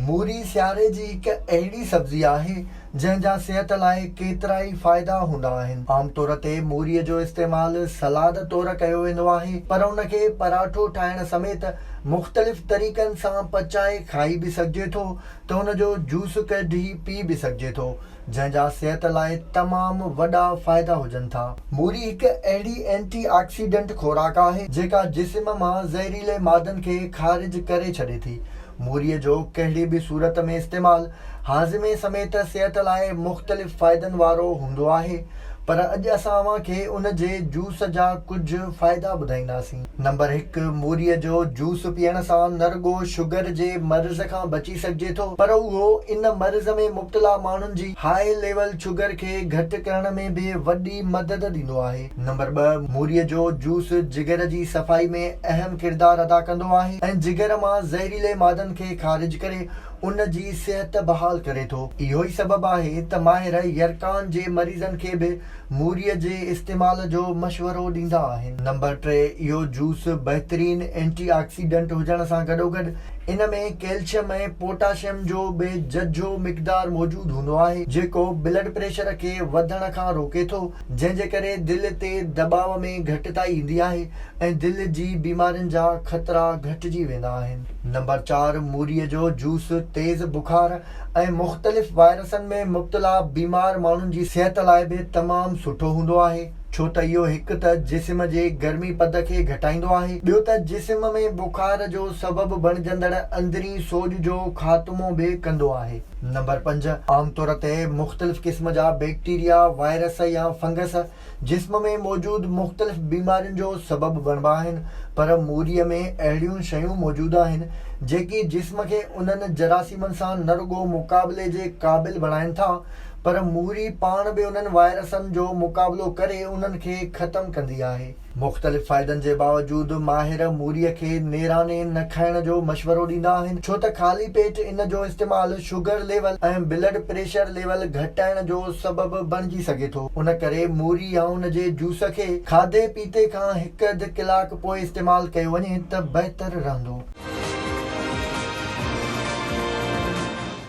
موري سياري جي هڪ اهڙي سبزي آهي، جنهن جا صحت لاء ڪيترائي فائدا هوندا آهن. عام طور تي موري جو استعمال سلاد طور ڪيو ويندو آهي، پر ان کي پراٺو ٺاهڻ سميت مختلف طريقن سان پچائي کائي به سگهجي ٿو ته ان جو جوس ڪڍي پي به سگهجي ٿو، جنهن جا صحت لاء تمام وڏا فائدا هجن ٿا. موري هڪ اهڙي اينٽي آڪسيڊنٽ خوراڪ آهي، جيڪا جسم مان زهريلي مادن کي خارج ڪري ڇڏي ٿي. موريء جو ڪهڙي به صورت ۾ استعمال هاضمي سميت صحت لاء مختلف فائدن وارو هوندو آهي پر اڄ اسان اوهان کي ان جي جوس جا ڪجهه فائدا ٻڌائينداسين. نمبر هڪ، موريء جو جوس پيئڻ سان نه رڳو شگر جي مرض کان بچي سگهجي ٿو پر اهو ان مرض ۾ مبتلا ماڻهن جي هاء ليول شگر کي گهٽ ڪرڻ ۾ به وڏي مدد ڏيندو آهي. نمبر ٻه، موريء جو جوس جگر جي صفائي ۾ اهم ڪردار ادا ڪندو آهي ۽ جگر مان زهريلي مادن کي خارج ڪري ان جي صحت بحال ڪري ٿو. اهو ئي سبب آهي ته ماهر يرقان جي مريضن کي به موريء جي استعمال جو مشورو ڏيندا آهن. نمبر ٽي، اهو جوس بهترين اينٽي آڪسيڊنٽ هجڻ سان گڏوگڏ ان ۾ ڪيلشم ۽ پوٽاشم جو به ججهو مقدار موجود هوندو آهي، جيڪو بلڊ پريشر کي وڌڻ کان روڪي ٿو. جنهن جي ڪري دل تي دٻاء ۾ گهٽتائي ايندي آهي ۽ دل جي بيمارين جا خطرا گهٽجي ويندا آهن. نمبر چار، موريء جو جوس، تيز بخار ۽ مختلف وائرسن ۾ مبتلا بيمار ماڻهن جي صحت لاء به تمام سٺو هوندو آهي، ڇو ته اهو هڪ ته جسم جي گرمي پد کي گهٽائيندو آهي، ٻيو ته جسم ۾ بخار جو سبب بڻجندڙ اندرين سوڄ جو خاتمو به ڪندو آهي. نمبر پنج، عام طور تي مختلف قسم جا بيڪٽيريا، وائرس يا فنگس جسم ۾ موجود مختلف بيمارين جو سبب بڻبا آهن، پر موريء ۾ اهڙيون شيون موجود آهن، جيڪي جسم کي انهن جراثيمن سان نه رڳو مقابلي جي قابل بڻائين ٿا، پر موري پاڻ به انهن وائرسن جو مقابلو ڪري انهن کي ختم ڪندي آهي. مختلف فائدن جي باوجود ماهر موريء کي نيراني نه کائڻ جو مشورو ڏيندا آهن ڇو ته خالي پيٽ ان جو استعمال sugar level ۽ blood pressure level گهٽائڻ جو سبب بڻجي سگهي ٿو ان ڪري موري يا ان جي جوس کي کاڌي پيتي کان هڪ اڌ ڪلاڪ پوء استعمال ڪيو وڃي ته بهتر رهندو.